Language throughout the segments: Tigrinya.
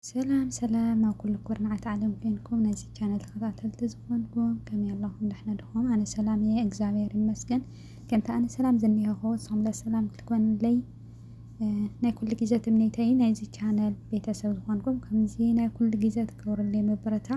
ሰላም ሰላም ኣብ ኩሉ ኩርናዓት ዓለም ኮንኩም ነዚ ቻነል ተኸታተልቲ ዝኾንኩም ከመይ ኣለኹም ደሕና ድኹም? ኣነ ሰላም እየ እግዚኣብሔር ይመስገን። ከምቲ ኣነ ሰላም ዝኒሀኹ ንስኹም ለ ሰላም ክትኮንለይ ናይ ኩሉ ግዜ ትምኒተይ ናይዚ ቻነል ቤተሰብ ዝኾንኩም ከምዚ ናይ ኩሉ ግዜ ትገብሩለይ ምብርታ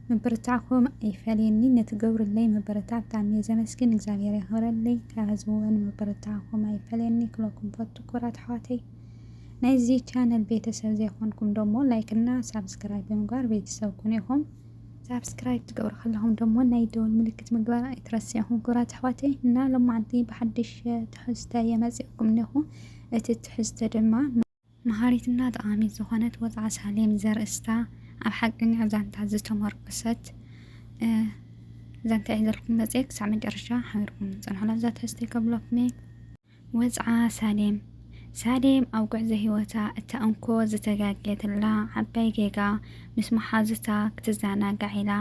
ምብርታዕኩም ኣይፈለየኒ ነቲ ገብሩለይ ምብርታዕ ብጣዕሚ እየ ዘመስግን እግዚኣብሔር የኽብረለይ ካብ ህዝቢ እውን ምብርታዕኩም ኣይፈለየኒ ክብለኩም ፈቱ ክቡራት ኣሕዋተይ ናይዚ ቻነል ቤተሰብ ዘይኮንኩም ደሞ ላይክ እና ሳብስክራይብ ብምግባር ቤተሰብ ኩኑ ኢኹም። ሳብስክራይብ ትገብሩ ከለኹም ደሞ ናይ ደወል ምልክት ምግባር ኣይትረስዑ። ክብራት ኣሕዋተይ እና ሎማዓንቲ ብሓድሽ ትሕዝተ እየ መፂኣኩም እኔኹ። እቲ ትሕዝተ ድማ። መሃሪት እና ጠቓሚት ዝኾነት ወፅዓ ሳሌም ዘርእስታ ኣብ ሓቀኛ ዛንታ ዝተሞርከሰት ዛንታ እየ ሒዘልኩም መፂኤ ክሳዕ መጨረሻ ሓቢርኩም ፅንሑና እዛ ትሕዝተይ ከብለኩም እየ። ወጽዓ ሳሌም ሳሌም ኣብ ጉዕዞ ህይወታ እታ እንኮ ዝተጋግየትላ ዓባይ ጌጋ ምስ መሓዙታ ክትዘናጋዕ ኢላ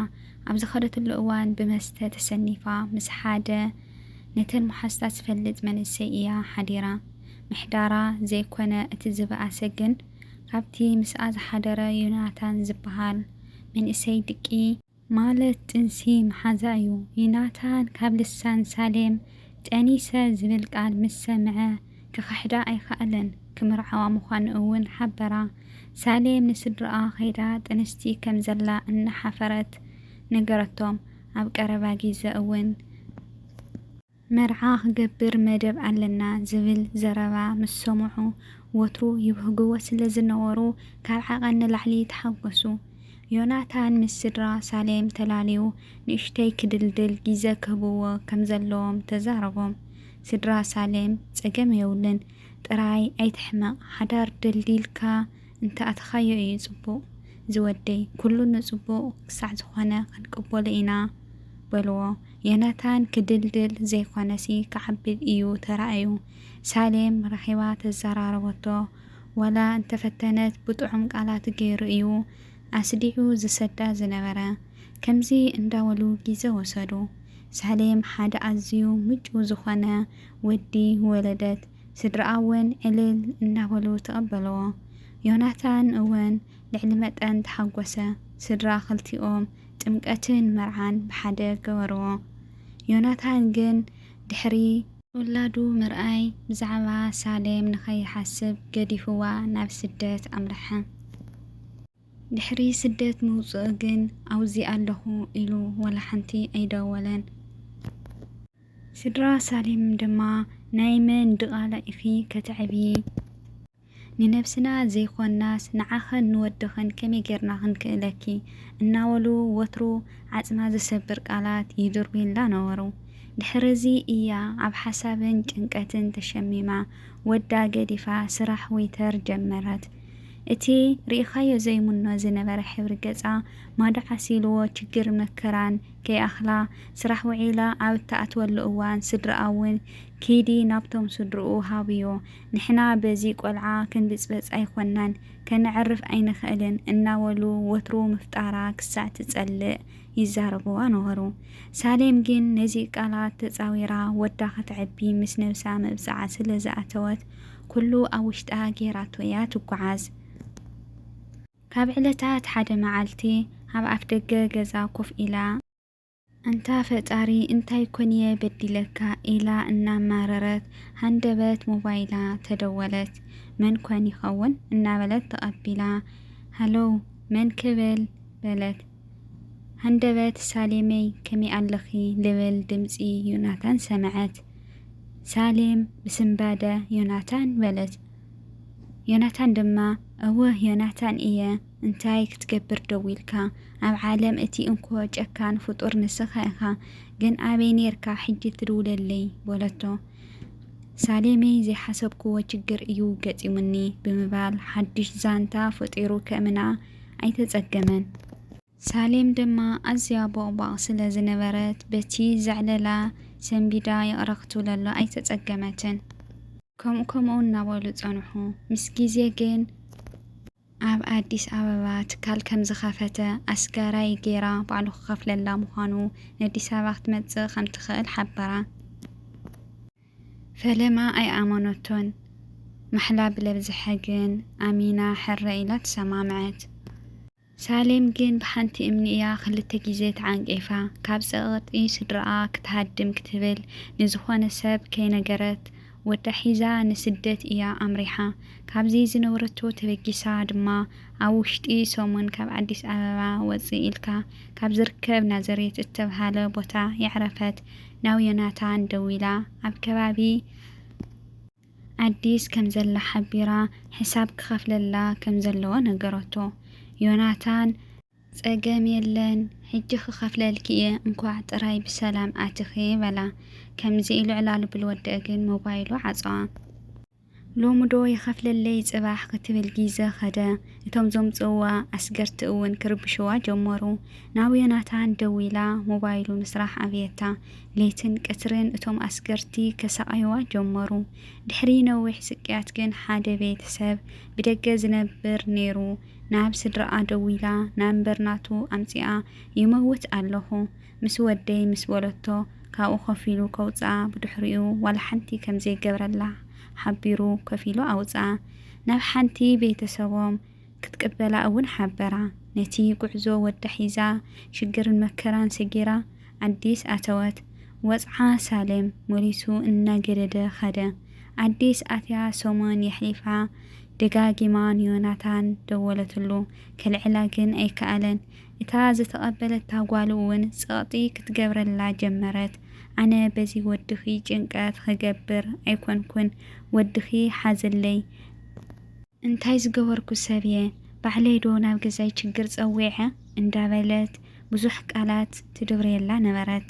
ኣብ ዝኸደትሉ እዋን ብመስተ ተሰኒፋ ምስ ሓደ ነተን መሓዙታ ዝፈልጥ መንእሰይ ኢያ ሓዲራ ምሕዳራ ዘይኮነ እቲ ዝበኣሰ ግን ካብቲ ምስኣ ዝሓደረ ዮናታን ዝበሃል መንእሰይ ድቂ ማለት ጥንሲ ምሓዛ እዩ። ዩናታን ካብ ልሳን ሳሌም ጠኒሰ ዝብል ቃል ምስ ሰምዐ ክኽሕዳ ኣይከኣለን። ክምርዓዋ ምዃኑ እውን ሓበራ። ሳሌም ንስድርኣ ከይዳ ጥንስቲ ከም ዘላ እናሓፈረት ነገረቶም። ኣብ ቀረባ ግዘ እውን። መርዓ ክገብር መደብ ኣለና ዝብል ዘረባ ምስ ሰምዑ፣ ወትሩ ይብህግዎ ስለ ዝነበሩ ካብ ዓቐን ንላዕሊ ተሓጐሱ። ዮናታን ምስ ስድራ ሳሌም ተላልዩ ንእሽተይ ክድልድል ግዜ ክህብዎ ከም ዘለዎም ተዛረቦም። ስድራ ሳሌም፣ ጸገም የብሉን፣ ጥራይ ኣይትሕመቕ፣ ሓዳር ደልዲልካ እንተ ኣተኻዮ እዩ ጽቡቕ ዝወደይ፣ ኵሉ ንጽቡቕ ክሳዕ ዝዀነ ክንቅበሎ ኢና በልዎ። ዮናታን ክድልድል ዘይኮነሲ ክዓብድ እዩ ተራእዩ። ሳሌም ረኺባ ተዘራረበቶ። ዋላ እንተፈተነት ብጥዑም ቃላት ገይሩ እዩ ኣስዲዑ ዝሰዳ ዝነበረ። ከምዚ እንዳበሉ ግዜ ወሰዱ። ሳሌም ሓደ ኣዝዩ ምጭው ዝኾነ ወዲ ወለደት። ስድርኣ እውን ዕልል እናበሉ ተቐበለዎ። ዮናታን እውን ልዕሊ መጠን ተሓጎሰ። ስድራ ክልቲኦም ጥምቀትን መርዓን ብሓደ ገበርዎ። ዮናታን ግን ድሕሪ። ውላዱ ምርኣይ ብዛዕባ ሳሌም ንኸይሓስብ ገዲፍዋ ናብ ስደት ኣምርሐ። ድሕሪ ስደት ምውጽኡ ግን ኣውዚ ኣለኹ ኢሉ ወላ ሓንቲ ኣይደወለን። ስድራ ሳሌም ድማ ናይ መን ድቓላ ኢኺ ከተዕብዪ? ንነብስና ዘይኮንናስ ንዓኽን ንወድኽን ከመይ ጌርና ክንክእለኪ እናበሉ ወትሩ ዓጽማ ዝሰብር ቃላት ይድርብዩላ ነበሩ። ድሕርዚ እያ ኣብ ሓሳብን ጭንቀትን ተሸሚማ ወዳ ገዲፋ ስራሕ ወይተር ጀመረት። እቲ ርኢኻዮ ዘይምኖ ዝነበረ ሕብሪ ገጻ ማዶ ዓሲልዎ ችግርን መከራን ከይኣኽላ ስራሕ ውዒላ ኣብ እትኣትወሉ እዋን ስድርኣ'ውን ኪዲ ናብቶም ስድርኡ ሃብዮ ንሕና በዚ ቆልዓ ክንብጽበጽ ኣይኮናን ከነዕርፍ ኣይንኽእልን እናበሉ ወትሩ ምፍጣራ ክሳዕ ትጸልእ ይዛረቡዋ ነበሩ። ሳሌም ግን ነዚ ቃላት ተጻዊራ ወዳ ከተዕቢ ምስ ነብሳ መብጽዓ ስለ ዝኣተወት ኩሉ ኣብ ውሽጣ ጌራቶ'ያ ትጉዓዝ። ካብ ዕለታት ሓደ መዓልቲ ኣብ ኣፍደገ ገዛ ኮፍ ኢላ። ኣንታ ፈጣሪ እንታይ ኮን'የ በዲለካ ኢላ እናማረረት ሃንደበት ሞባይላ ተደወለት። መን ኮን ይኸውን? እናበለት ተቐቢላ ሃሎው መን ክብል? በለት። ሃንደበት ሳሌመይ ከመይ ኣለኺ? ልብል ድምጺ ዮናታን ሰምዐት። ሳሌም ብስንባደ ዮናታን በለት። ዮናታን ድማ እወ ዮናታን እየ። እንታይ ክትገብር ደዊልካ ኣብ ዓለም እቲ እንኮ ጨካን ፍጡር ንስኻ ኢኻ ግን ኣበይ ኔርካ ሕጂ ትድውለለይ በለቶ ሳሌመይ ዘይሓሰብክዎ ችግር እዩ ገጢሙኒ ብምባል ሓዱሽ ዛንታ ፈጢሩ ከእምና ኣይተጸገመን ሳሌም ድማ ኣዝያ ቦቕቧቕ ስለ ዝነበረት በቲ ዘዕለላ ሰንቢዳ ይቕረ ክትብለሉ ኣይተጸገመትን። ከምኡ ከምኡ እናበሉ ጸንሑ ምስ ግዜ ግን። ኣብ ኣዲስ ኣበባ ትካል ከምዝኸፈተ ኣስጋራይ ገይራ ባዕሉ ክኸፍለላ ምዃኑ ነዲስ ኣበባ ክትመፅእ ከምትኽእል ሓበራ። ፈለማ ኣይኣመነቶን። ማሕላ ብለብዝሐ ግን ኣሚና ሕረ ኢላ ተሰማምዐት። ሳሌም ግን ብሓንቲ እምኒ እያ ክልተ ግዜ ተዓንቂፋ። ካብ ፀቕጢ ስድርኣ ክትሃድም ክትብል ንዝኾነ ሰብ ከይነገረት ወዳ ሒዛ ንስደት እያ ኣምሪሓ። ካብዚ ዝነበረቶ ተበጊሳ ድማ ኣብ ውሽጢ ሰሙን ካብ ኣዲስ ኣበባ ወጽእ ኢልካ ካብ ዝርከብ ናዘሬት እተብሃለ ቦታ የዕረፈት ናብ ዮናታን ደዊላ ኣብ ከባቢ ኣዲስ ከም ዘላ ሓቢራ ሕሳብ ክኸፍለላ ከም ዘለዎ ነገረቶ። ዮናታን። ጸገም የለን ሕጂ ክከፍለልኪ እየ እንኳዕ ጥራይ ብሰላም ኣቲኪ በላ ከምዚ ኢሉ ዕላል ብል ወደኣ ግን ሞባይሉ ዓጸዋ። ሎሚ ዶ ይከፍለለይ ጽባሕ ክትብል ጊዘ ከደ እቶም ዘምጽእዋ ኣስገርቲ እውን ክርብሽዋ ጀመሩ ናብ ዮናታን ደዊላ ሞባይሉ ምስራሕ ኣብየታ ለይትን ቅትርን እቶም ኣስገርቲ ከሳቅይዋ ጀመሩ ድሕሪ ነዊሕ ስቅያት ግን ሓደ ቤት ሰብ ብደገ ዝነብር ነይሩ ናብ ስድራኣ ደዊላ ናብ በርናቱ ኣምጺኣ ይመውት ኣለኹ ምስ ወደይ ምስ በለቶ ካብኡ ኮፍ ኢሉ ከውጽኣ ብድሕሪኡ ዋላ ሓንቲ ከም ዘይገብረላ ሓቢሩ ኮፍ ኢሉ ኣውጽኣ ናብ ሓንቲ ቤተሰቦም ክትቅበላ እውን ሓበራ ነቲ ጉዕዞ ወዳ ሒዛ ሽግርን መከራን ሰጊራ ኣዲስ ኣተወት ወጽዓ ሳልም መሊሱ እናገደደ ከደ ኣዲስ ኣትያ ሰሙን የሕሊፋ ደጋጊማ ንዮናታን ደወለትሉ፣ ከልዕላ ግን ኣይከኣለን። እታ ዝተቐበለታ ጓሉ'ውን ጸቕጢ ክትገብረላ ጀመረት፣ ኣነ በዚ ወድኺ ጭንቀት ኽገብር ኣይኰንኩን፣ ወድኺ ሓዘለይ። እንታይ ዝገበርኩ ሰብ'የ? ባዕለይ'ዶ ናብ ገዛይ ችግር ጸዊዐ? እንዳበለት ብዙሕ ቃላት ትድርብየላ ነበረት።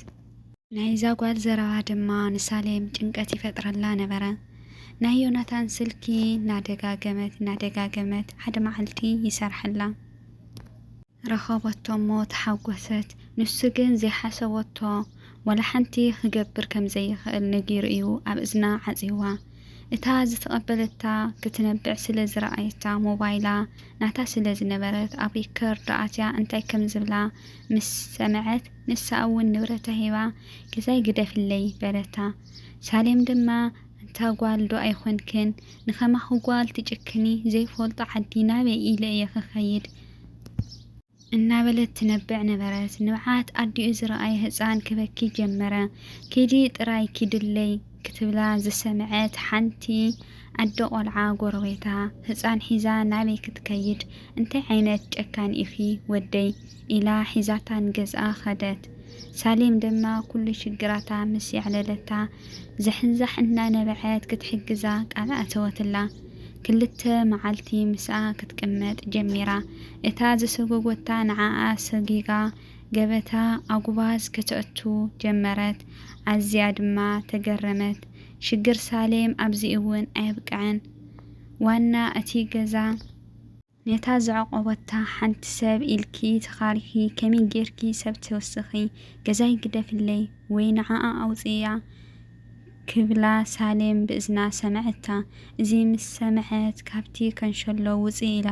ናይዛ ጓል ዘረባ ድማ ንሳሌም ጭንቀት ይፈጥረላ ነበረ። ናይ ዮናታን ስልኪ እናደጋገመት እናደጋገመት ሓደ መዓልቲ ይሰርሐላ። ረኸበቶ እሞ ተሓጎሰት። ንሱ ግን ዘይሓሰበቶ ዋላ ሓንቲ ክገብር ከም ዘይኽእል ነጊሩ እዩ ኣብ እዝና ዓጽዩዋ። እታ ዝተቐበለታ ክትነብዕ ስለ ዝረኣየታ ሞባይላ ናታ ስለ ዝነበረት ኣብ ሪከርድ ኣትያ እንታይ ከም ዝብላ ምስ ሰምዐት፣ ንሳ'ውን ንብረታ ሂባ ገዛይ ግደፍለይ በለታ። ሳሌም ድማ ኣንታ ጓል ዶ ኣይኮንክን ንከማኺ ጓል ትጭክኒ ዘይፈልጦ ዓዲ ናበይ ኢለ እየ ክኸይድ? እናበለት ትነብዕ ነበረት። ንብዓት ኣዲኡ ዝረኣየ ህጻን ክበኪ ጀመረ። ኪዲ ጥራይ ኪድለይ ክትብላ ዝሰምዐት ሓንቲ ኣደ ቆልዓ ጎረቤታ ህጻን ሒዛ ናበይ ክትከይድ እንታይ ዓይነት ጨካን ኢኺ ወደይ? ኢላ ሒዛታ ንገዝኣ ከደት። ሳሌም ድማ ኩሉ ሽግራታ ምስ የዕለለታ ዛሕንዛሕ እናነበዐት ክትሕግዛ ቃል ኣእተወትላ። ክልተ መዓልቲ ምስኣ ክትቅመጥ ጀሚራ። እታ ዝሰጎጎታ ንዓኣ ሰጊጋ ገበታ ኣጉባዝ ከተእቱ ጀመረት። ኣዝያ ድማ ተገረመት። ሽግር ሳሌም ኣብዚ እውን ኣየብቅዐን። ዋና እቲ ገዛ። ነታ ዘዕቆበታ ሓንቲ ሰብ ኢልኪ ተኻሪኺ ከመይ ጌርኪ ሰብ ትውስኺ ገዛይ ግደፍለይ ወይ ንዓኣ ኣውጽእያ ክብላ ሳሌም ብእዝና ሰመዐታ እዚ ምስ ሰመዐት ካብቲ ከንሸሎ ውጽእ ኢላ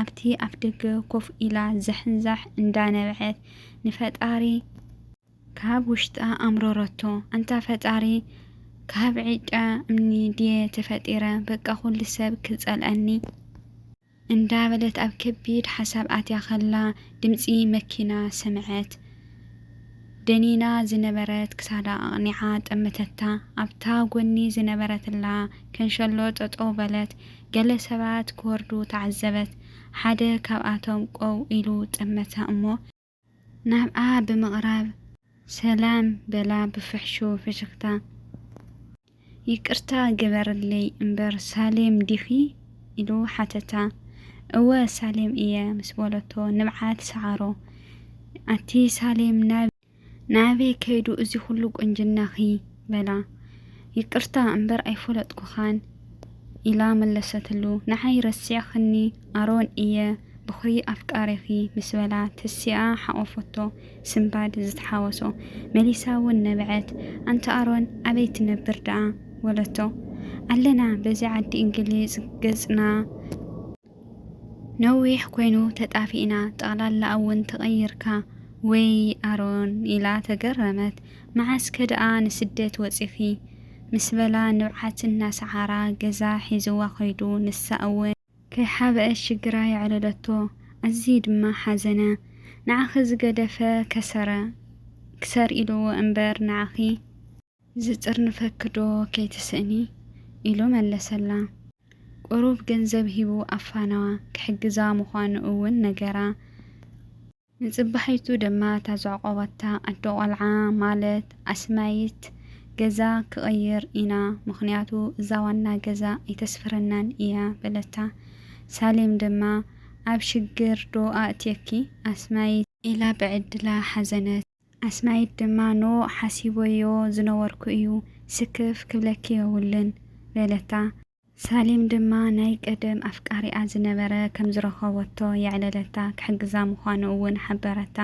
ኣብቲ ኣፍደገ ኮፍ ኢላ ዛሕንዛሕ እንዳነበዐት ንፈጣሪ ካብ ውሽጣ ኣምረረቶ ኣንታ ፈጣሪ ካብ ዒቃ እምኒ ድየ ተፈጢረ በቃ ኩሉ ሰብ ክጸልኣኒ እንዳበለት ኣብ ከቢድ ሓሳብ ኣትያ ከላ ድምጺ መኪና ሰምዐት ደኒና ዝነበረት ክሳዳ ኣቕኒዓ ጠመተታ ኣብታ ጎኒ ዝነበረትላ ከንሸሎ ጠጠው በለት ገለ ሰባት ክወርዱ ተዓዘበት ሓደ ካብኣቶም ቆው ኢሉ ጠመታ እሞ ናብኣ ብምቕራብ ሰላም በላ ብፍሕሹው ፍሽኽታ። ይቅርታ ግበርለይ እምበር ሳሌም ዲኺ? ኢሉ ሓተታ። እወ ሳሌም እየ ምስ በለቶ ንብዓት ሰዓሮ። ኣቲ ሳሌም ናበይ ከይዱ እዚ ኹሉ ቁንጅናኺ? በላ። ይቅርታ እምበር ኣይፈለጥኩኻን ኢላ መለሰትሉ። ንዓይ ረሲዕክኒ ኣሮን እየ ብኩሪ ኣፍቃሪኺ ምስ በላ ተሲኣ ሓቆፎቶ ስንባድ ዝትሓወሶ መሊሳ ውን ነበዐት። ኣንታ ኣሮን ኣበይ ትነብር ደኣ በለቶ። ኣለና በዚ ዓዲ እንግሊዝ ገጽና። ነዊሕ ኮይኑ ተጣፊእና ጠቕላላ እውን ተቐይርካ ወይይ ኣሮን ኢላ ተገረመት መዓስ ከ ደኣ ንስደት ወጺኺ ምስ በላ ንብዓት እናሰዓራ ገዛ ሒዝዋ ከይዱ ንሳ እውን ከይሓበአት ሽግራ የዕለለቶ ኣዝዪ ድማ ሓዘነ ንዓኺ ዝገደፈ ከሰረ ክሰር ኢልዎ እምበር ንዓኺ። ዝጥርንፈኪ'ዶ ከይትስእኒ? ኢሉ መለሰላ። ቁሩብ ገንዘብ ሂቡ ኣፋነዋ፣ ክሕግዛ ምዃኑ እውን ነገራ። ንጽባሒቱ ድማ እታ ዘዕቆባታ ኣደ ቆልዓ ማለት ኣስማይት ገዛ ክቕይር ኢና፣ ምኽንያቱ እዛ ዋና ገዛ ኣይተስፍረናን እያ በለታ። ሳሌም ድማ ኣብ ሽግር'ዶ ኣእትየኪ ኣስማይት? ኢላ ብዕድላ ሓዘነት። ኣስናይት ድማ ንኡ ሓሲበዮ ዝነበርኩ እዩ፣ ስክፍ ክብለኪ የብሉን። በለታ። ሳሌም ድማ ናይ ቀደም ኣፍቃሪኣ ዝነበረ ከም ዝረኸበቶ የዕለለታ፣ ክሕግዛ ምዃኑ እውን ሓበረታ።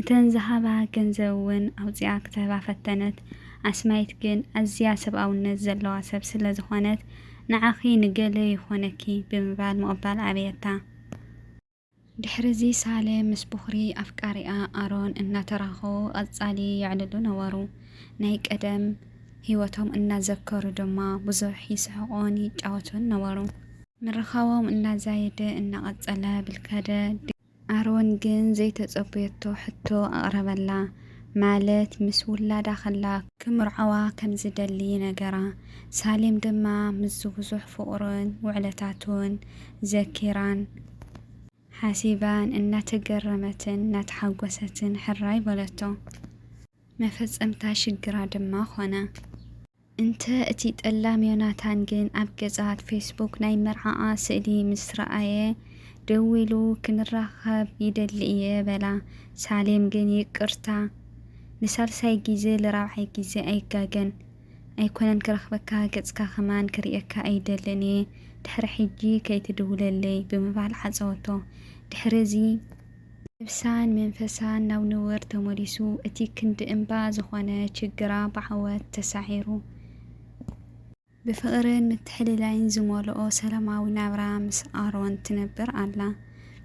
እተን ዝሃባ ገንዘብ እውን ኣውጺኣ ክትህባ ፈተነት። ኣስናይት ግን ኣዝያ ሰብኣውነት ዘለዋ ሰብ ስለ ዝኾነት፣ ንዓኺ ንገለ ይኾነኪ ብምባል ምቕባል ኣበየታ። ድሕርዚ ሳሌም ምስ ቦኽሪ ኣፍቃሪኣ ኣሮን እናተራኸቡ ቐጻሊ የዕልሉ ነበሩ። ናይ ቀደም ህይወቶም እናዘከሩ ድማ ብዙሕ ይስሕቑን ይጫወቱን ነበሩ። ምርኻቦም እናዛየደ እናቐጸለ ብልካደ፣ ኣሮን ግን ዘይተጸበየቶ ሕቶ ኣቕረበላ። ማለት ምስ ውላዳ ከላ ክምርዐዋ ከም ዝደሊ ይነገራ። ሳሌም ድማ ምስዚ ብዙሕ ፍቕሩን ውዕለታቱን ዘኪራን ሓሲባን እናተገረመትን እናተሓጎሰትን ሕራይ በለቶ። መፈጸምታ ሽግራ ድማ ኮነ። እንተ እቲ ጠላም ዮናታን ግን ኣብ ገጻት ፌስቡክ ናይ መርዓኣ ስእሊ ምስ ረኣየ ደዊሉ ክንራኸብ ይደሊ እየ በላ። ሳሌም ግን ይቅርታ ንሳልሳይ ግዜ ልራብዓይ ግዜ ኣይጋገን ኣይኮነን ክረኽበካ ገጽካ ከማን ክርእየካ ኣይደልን እየ ድሕሪ ሕጂ ከይትድውለለይ ብምባል ዓጸወቶ። ድሕሪ እዚ። ነብሳን መንፈሳን ናብ ንቡር ተመሊሱ፣ እቲ ክንዲ እምባ ዝኾነ ችግራ ብዓወት ተሳዒሩ፣ ብፍቕርን ምትሕልላይን ዝመልኦ ሰላማዊ ናብራ ምስ ኣሮን ትነብር ኣላ።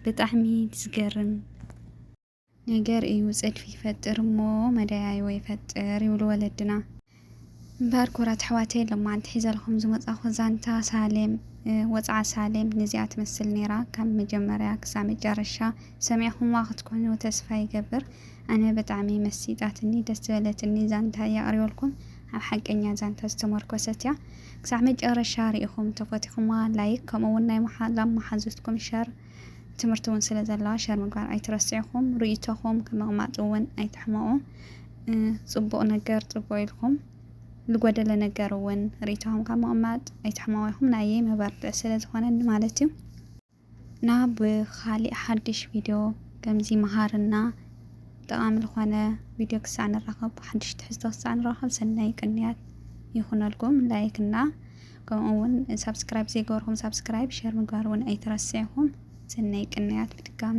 ብጣዕሚ ዝገርም ነገር እዩ፣ ጽድፊ ይፈጥር እሞ መደያይቦ ይፈጥር ይብሉ ወለድና። እምበር ኩቡራት ኣሕዋተይ ሎማዓንቲ ሒዘልኹም ዝመጻኹ ዛንታ ሳሌም ወጽዓ ሳሌም ንዚኣ ትመስል ኔራ ካብ መጀመርያ ክሳብ መጨረሻ ሰሚዕኹምዋ ክትኮኑ ተስፋ ይገብር ኣነ ብጣዕሚ መሲጣትኒ ደስ ዝበለትኒ ዛንታ እያ ኣቅሪበልኩም ኣብ ሓቀኛ ዛንታ ዝተሞርኮሰት እያ ክሳዕ መጨረሻ ሪኢኹም ተፈቲኹምዋ ላይክ ከምኡ ውን ናይ መሓዛም መሓዙትኩም ሸር ትምህርቲ እውን ስለ ዘለዋ ሸር ምግባር ኣይትረስዕኹም ርእይቶኹም ከምቕማጥ እውን ኣይትሕመቑ ፅቡቕ ነገር ፅቡቕ ኢልኩም ዝጎደለ ነገር እውን ርእይቶኹም ካብ ምቕማጥ ኣይትሕመቑ ኢኹም ናየይ መበርትዕ ስለ ዝኾነኒ ማለት እዩ እና ብካሊእ ሓድሽ ቪድዮ ከምዚ መሃርና ጠቓሚ ዝኾነ ቪድዮ ክሳዕ ንራኸብ ሓድሽ ትሕዝቶ ክሳዕ ንራኸብ ሰናይ ቅንያት ይኹነልኩም ላይክ እና ከምኡ እውን ሳብስክራይብ ዘይገበርኩም ሳብስክራይብ ሸር ምግባር እውን ኣይትረስዕኹም ሰናይ ቅንያት ብድጋሜ።